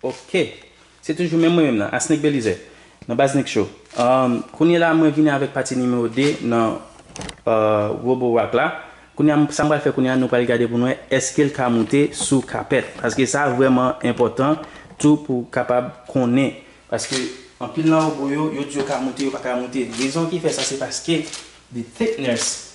Ok! Se toujou menm mwen menm nan, Asneg Belizaire, nan Baz Neg Show. Kounyela mwen vini avèk pati nimewo 2 nan Robo Rock la. Kounya sa m pral fè kounya nou pral gade pou n wè èske l ka moute sou kapèt. Paske sa vrèman enpòtan tou pou w kapab konnen. Paske anpil nan Robo yo, yo di yo ka moute yo pa ka moute. Rezon ki fè sa se paske the thickness.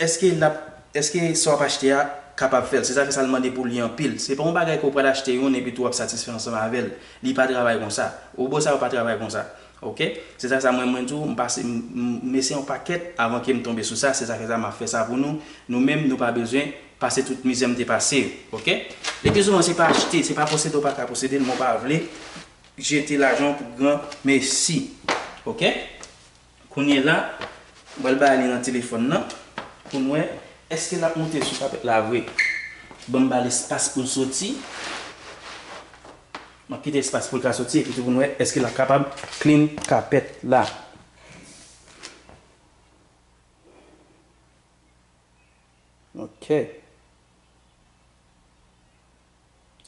Èske lap Èske sa wap achte a kapab fèl? Se zafè sa l mande pou li anpil. Se pa yon bagay ke w pral achte youn epitou wap satisfè ansanm avè l. Li pa travay konsa. Wobo sa yo pa travay konsa. Ok? Se zafè sa mwen mwen di w m pase m eseye yon pakèt avan ke m tonbe sou sa. Se zafè sa map fè sa pou nou. Nou menm nou pa bezwen pase tout mizè m te pase yo. Ok? Le pi souvan se pa achte, se pa posede w pa ka posede l men w pa vle jete lajan w pou gran mesi. Ok? Kounyela m pral ba li nan telefòn nan pou m wè eske lap moute sou kapèt la vre. Banm bal espas poul soti. Map kite espas poul ka soti epitou pou nou wè eske lap kapab clean kapèt la. Ok.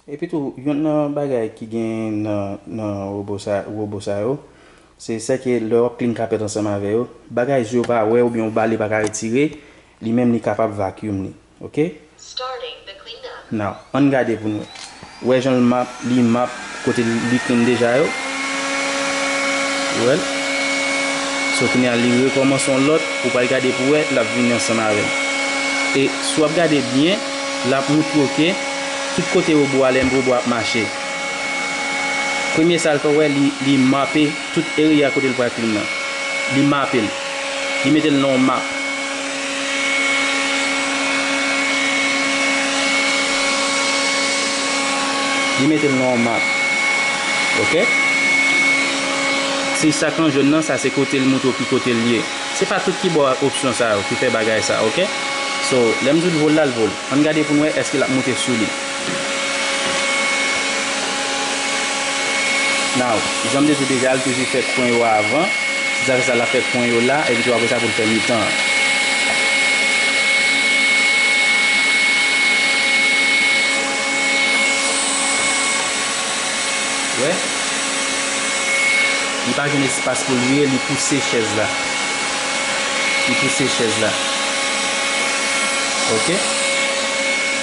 Epitou, youn nan bagay ki gen nan wobo sa yo, se sèke lè w ap klin kapèt ansanm avè yo, bagay zye w pa wè oubyen w bali pa ka retire, li menm li kapab vacuum li. Ok? Now, ann gade pou n wè. Wè jan l map, li map. Kote li klin deja yo. Ou wèl. So kounye a li rekòmanse yon lòt, ou pral gade pou wè lap vini ansanm avèl. E si wap gade byen, lap moutre w ke tout kote robo a lè robo a ap mache. Premye sal fè ou wè li mape. Tout eria kote l pral film nan. Li mape l. Li mete l nan yon map. Li mete l nan yon map. Ok. Si sak an jòn nan, sa se kote l moutre w ki kote l ye. Se pa tout ki ba w ak opsyon sa yo, ki fè bagay sa. Ok. So, lè m di w l vo l la, l vo l. An n gade pou n wè èske l ap moute sou li. Now, jan m te di deja, li toujou fè kwen yo avan. Si sa fè sa, l ap fè kwen yo la, epi tou apre sa pou l fè mitan an. Ou wè? Li pa jwenn espas pou l ye, li pouse chèz la. Li pouse chèz la. Ok?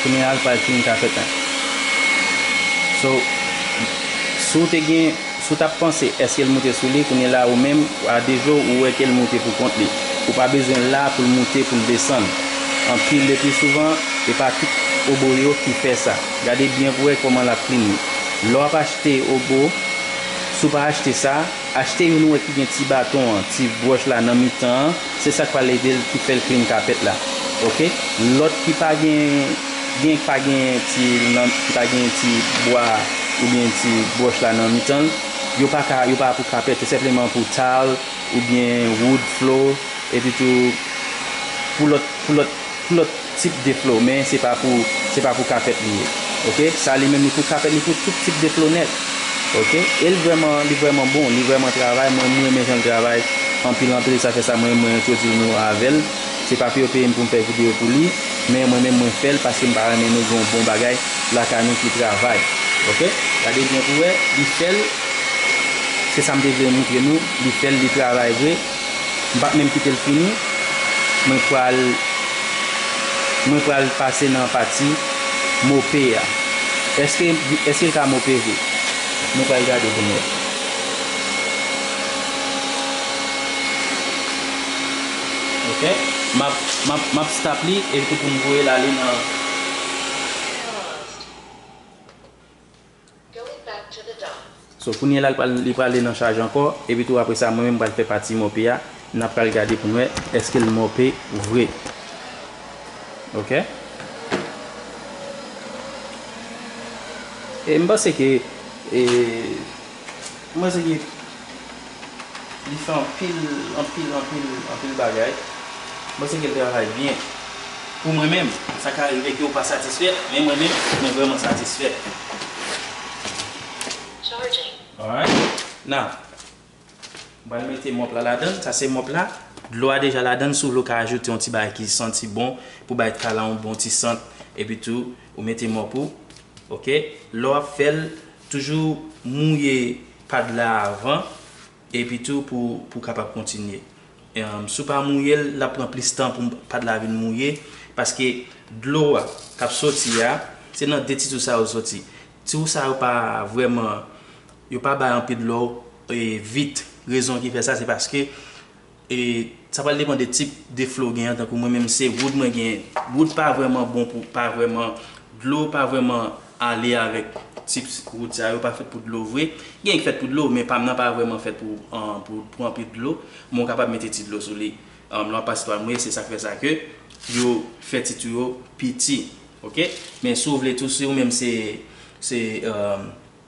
Kounyè a l pral fin kafèt an. So, si w te gen, si w t ap panse èske l moute sou li, kounyè la ou menm, a de je w, ou wè ke l moute pou kont li. Ou pa bezwen l la pou l moute, pou l desann. Anpi le pli souvan, e pa tout obo yo ki fè sa. Gade byen pou wè kòman l ap klini. Lè w ap achte obo, si w pa achte sa, achte youn ou wè ki gen ti baton an, ti bwòch la nan mitan an, se sak pral edel ki fèl klin kapèt la ok lòt ki pa gen gen ki pa gen ti nan ki pa gen ti bwa oubyen ti broch la nan mitanl yo pa ka yo pa pou kapèt se senpleman pou tal oubyen wood flow epitou pou lòt pou lòt pou lòt. Tip de flo men se pa pou se pa pou kapèt li ye ok sa li menm li pou kapèt li pou tout tip de flo nèt ok el vrèman li vrèman bon li vrèman travay mwen m renmen janl travay anpil anpil sa fè sa mwen mwen entwodil nou avèl se pa pou yo peyem poum fè video pou li men mwen menm mwen fèl paskem pa renmen nou gen yon bon bagay lakay nou ki travay ok gade byen pou wè li fèl se sam te vle moutre nou li fèl li travay vre. M pap menm kite l fini, mwen pral mwen pral pase nan pati mope a. Eske eske l ka mope vre? Nou pral gade pou n wè. Ok map map map stop li epi pou m voye l ale nan. So kounye la li prale nan chaj ankò epi tou apre sa mwen menm m pral fè pati mòpe a nap pral gade pou n wè eske l mòpe vre ok e m panse ke e m panse ke. Li fè anpil, anpil, anpil, anpil bagay. Mwen panse ke l travay byen. Pou mwen menm. Sa ka rive ke ou pa satisfè, men mwen menm, mwen vrèman satisfè. Alright. Now, m pral mete mòp la ladan l. Sa se mòp la. Dlo a deja ladan l. Si w vle ou ka ajoute yon ti bagay ki santi bon pou bay dra la yon bon ti sant. Epi tou, ou mete mòp ou. Ok. Lè w ap fè l, toujou mouye Pad la avan epi tou pou kapab kontinye si w pa mouye l lap pran plis tan pou pad la vin mouye paske dlo a kap soti a se nan 2 ti tou sa yo l soti ti w sa yo pa vrèman yo pa bay anpil dlo vit rezon ki fè sa se paske E sa pral depan de tip de fle w genyen tankou mwen menm se wood mwen genyen. Wood pa vrèman bon pou pa vrèman dlo pa vrèman ale avèk tips wood sa yo pa fèt pou dlo vre. Genyen ki fèt pou dlo men pam nan pa vrèman fèt pou pou anpil dlo men w kapab mete ti dlo sou li lè wap pase twal mouye se sak fè sa ke yo fè tit ou yo piti ok men si w vle tou si w menm se se.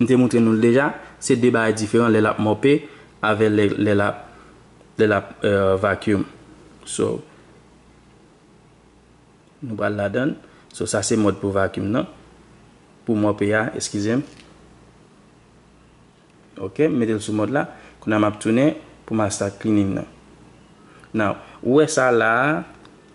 M te moutre nou l deja, se 2 bagay diferan lè l ap mòpe avè lè lè l ap lè l ap vacuum. So, nou pral ladan l. So sa se mòd pou vacuum nan. Pou mòpe a, eskize m. Ok, m mete l sou mòd la. Kounya m ap tounen pou m al start cleaning nan. Now, ou wè sa la a,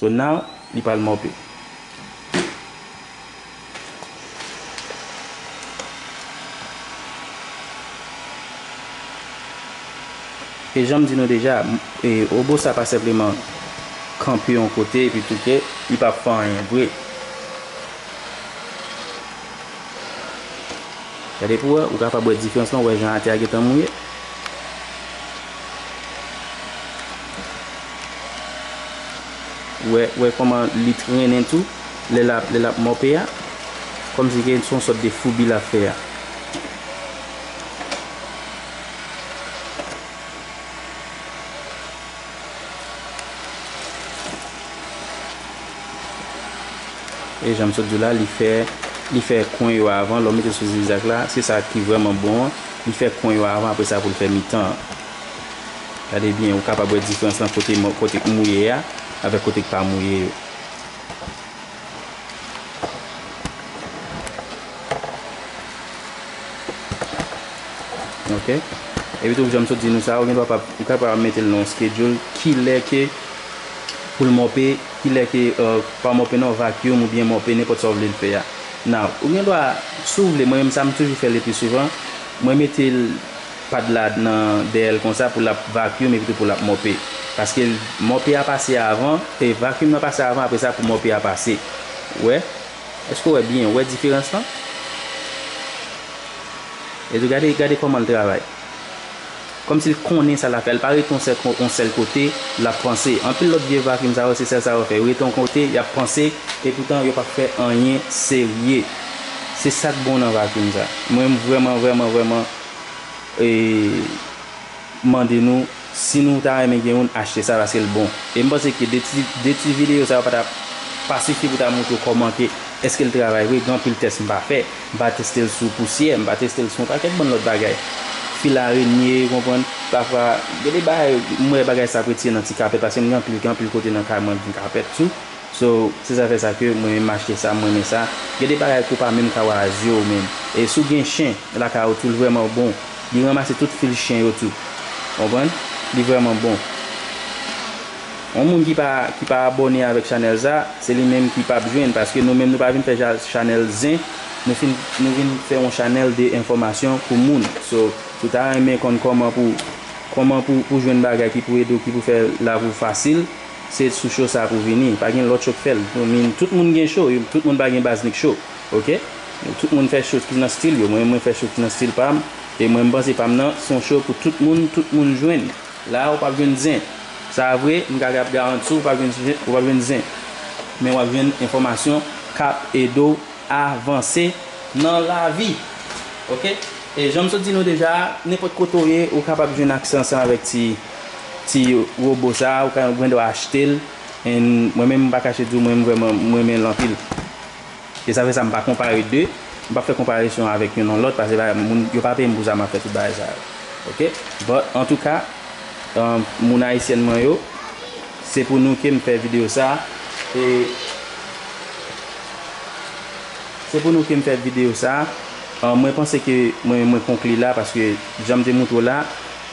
So now li pral mope. E janm di nou deja robo sa pa senpleman kanpe yon kote epi touke li pap fè anyen vre. Gade pou wè, ou kapab wè diferans lan, ou wè jan atè a gentan mouye. Wè kòman li trennen tou lè l ap mòpe a. Kòmsi ke se yon sòt de foubi l ap fè a. E jan m sot di w la, li fè li fè kwen yo avan lè w mete sou zigzag la. Se sa ki vrèman bon an. Li fè kwen yo avan apre sa pou l fè mitan an. Gade byen, ou kapab wè diferans lan kote k mouye a avèk kote k pa mouye yo. Ok. Epi tou, jan m sot di nou sa, ou gen dwa pa, ou kapab mete l nan yon skedyoul kilè ke pou l mòpe, kilè ke, pa mòpe non, vacuum oubyen mòpe, nenpòt sa ou vle l fè a. Now, ou gen dwa, si w vle, mwen menm sa m toujou fè lepli souvan, mwen mete l. Pad la nan dèyèl konsa pou lap vacuum epi tou pou lap mope paske mope a pase avan e vacuum nan pase avan apresa pou mope a pase ou wè èske ou wè byen ou wè diferans lan e tou gade gade kòmanl travay kòmsil konnen sa lap fè li pa rete yon sèl kote lap panse anpil lòt vye vacuum sa yo se sèl sa yo fè yo rete yon kote yap panse epoutan yo pap fè anyen serye se sak bon nan vacuum sa mwen vrèman vrèman vrèman. mande nou si nou ta renmen gen youn achte sa paske l bon e m panse ke de ti videyo sa yo pa ta pa sifi pou ta moutre w kòman ke eske l travay vre gen anpil tès m pa fè m pa teste l sou pousyè m pa teste l sou yon pakèt bann lòt bagay fil arenye ou konprann pafwa gen de bagay m wè bagay sa ap retire nan ti kapèt paske m gen anpil gen anpil kote nan kay mwen m gen kapèt tou. So se sa fè sa ke mwen menm achte sa, m renmen sa. Gen de bagay ke w pa menm ka wè a zye w menm. E si w gen chen lakay ou tou l vrèman bon. Li ranmase tout fil chen yo tou. Ou konprann? Li vrèman bon. Yon moun ki pa ki pa abòne avèk chanèl sa, se li menm ki pap jwenn paske nou menm nou pa vin fè ja chanèl zen, nou fin nou vin fè yon chanèl de enfòmasyon pou moun. So si w ta renmen konn kòman pou kòman pou pou jwenn bagay ki pou ede w ki pou fè lavi w fasil. Se sou show sa pou vini. Pa gen lòt show k fè l. Ou min tout moun gen show. Tout moun pa gen Baznik show. Ok. Tout moun fè show ki nan stil yo. Mwen mwen fè show ki nan stil pa m. E mwen m panse pa m nan s on show pou tout moun, tout moun jwenn. La a ou p ap jwenn zen. Sa a vre, m kaka ap garanti w, ou p ap jwenn ou p ap jwenn zen. Men w ap jwenn enfòmasyon k ap ede w avanse nan lavi. Ok. E jan m sot di nou deja a, nenpòt kote ou ye, ou kapab jwenn aksè ansanm avèk ti. ti robo sa ou ka ou gen dwa achtel and mwen menm m pa kache diw mwen vrèman m renmen l anpil e sa fè sa m pa konpare 2 m pap fè konparesyon avèk youn an lòt pase bagay moun yo pa peye m pou sa map fè tout bagay sa yo ok but antouka moun ayisyèn mwen yo se pou nou kem fè video sa e se pou nou kem fè video sa mwen panse ke mwen mwen konkli la paske janm te moutre w la.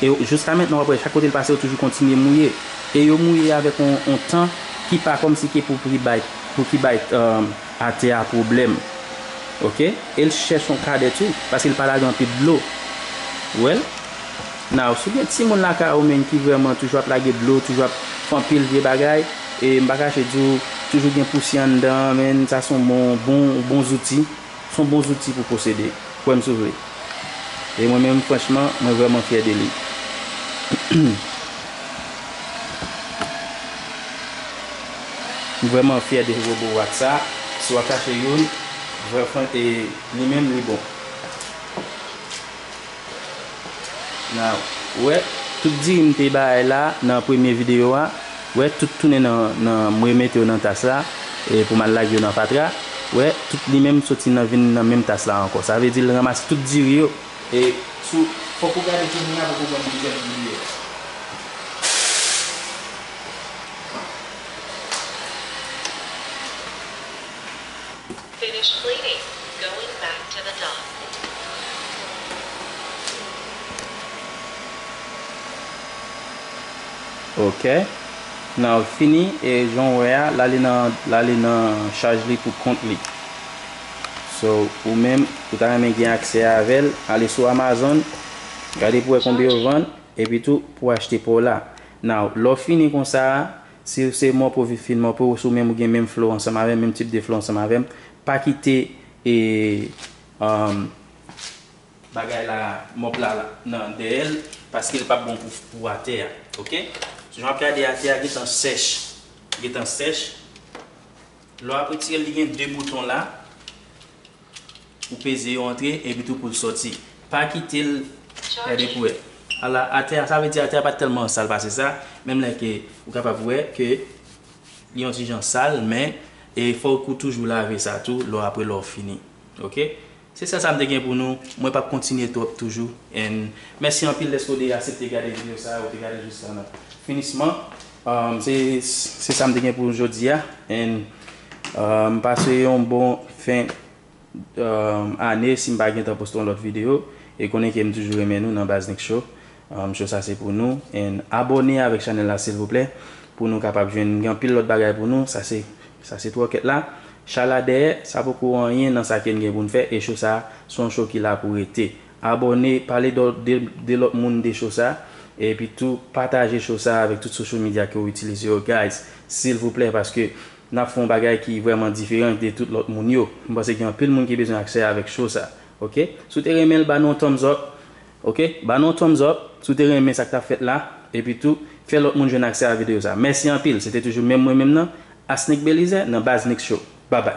E jouska mentnan wap wè chak kote l pase yo toujou kontinye mouye e yo mouye avèk yon tan ki pa kòmsi ke pou pri bay pou ki bay atè a pwoblèm ok e l chèch yon kadè tou paske l pa lage anpil dlo ou wè l now si w gen timoun lakay ou menn ki vrèman toujou ap lage dlo toujou ap fè anpil vye bagay e m pa kache di w toujou gen pousyè anndan menn sa s on bon bon zouti. Son bon zouti pou posede. Kwèm sou vle. E mwen menm franchman mwen vrèman fyè de li. M vrèman fyè de robo wax sa. Si wap chache youn vrè fran e li menm li bon. Na wè tout diri m te bay la nan premye video a wè tout tounen nan nan m remete yo nan tas la pou m al lage yo nan fatra wè tout li menm soti nan vin nan menm tas la ankò sa vle di l ranmase tout diri yo e sou fòk ou gade kounya pou pou konn ki jèn diri yo ye. Finish cleaning going back to the dock. Ok Nan l fini e jan w wè a l ale nan l ale nan chaj li pou kont li So ou menm ou ta renmen gen aksè avè l ale sou Amazon gade pou wè konbyen yo vann epitou pou w achte pa w la Now lè w fini konsa a Siw se mò pou viv fin mò pou sou menm ou gen menm flow ansanm avèm menm tip de flow ansanm avèm pa kite e um bagay la mòp la nan dèyèl paskel pap bon pou pou atè a ok jan wap gade atè a gentan sèch gentan sèch Lè wap retirel li gen 2 bouton la ou peze yo antre epi tou poul sòti pa kitel gade pou wè ala atè a sa vle di atè a pat tèlman sal pase sa menm lè ke ou kapab wè ke li yon ti jan sal men fòk ou toujou lave sa tou lò apre lè ou fini ok. Se sèl sa m te gen pou nou, mwen pap kontinye twòp toujou and mèsi anpil dèske w te asepte gade video sa a, ou te gade jis la nan finisman an se se sa m te gen pou jodi a and pase yon bon fen ane si m pa gentan poste yon lòt video e konnen ke m toujou renmen nou nan Bazz Nik Show. Ahm show sa se pou nou and abone avek chanel la silvouplè pou nou kapab jwenn gen anpil lot bagay pou nou sa se sa se troket la cha la dèyè sa poko anyen nan sa ken gen poun fè e show sa son show ki la pou rete abone pale do de lot moun de show sa epi tou pataje show sa avek tout social media ke ou itilize yo guys silvouplè paske nap fè yon bagay ki vreman diferan de tout lot moun yo mpanse gen anpil moun ki bezwen aksè avek show sa ok sou te renmenl ba nou yon thumbs up Ok ba nou yon thumbs up si w te renmen sa k tap fèt la epi tou fè lòt moun jwenn aksè a videyo sa mèsi anpil se te toujou menm mwen menm nan Asnick Belizaire nan Baz Mix Show babay.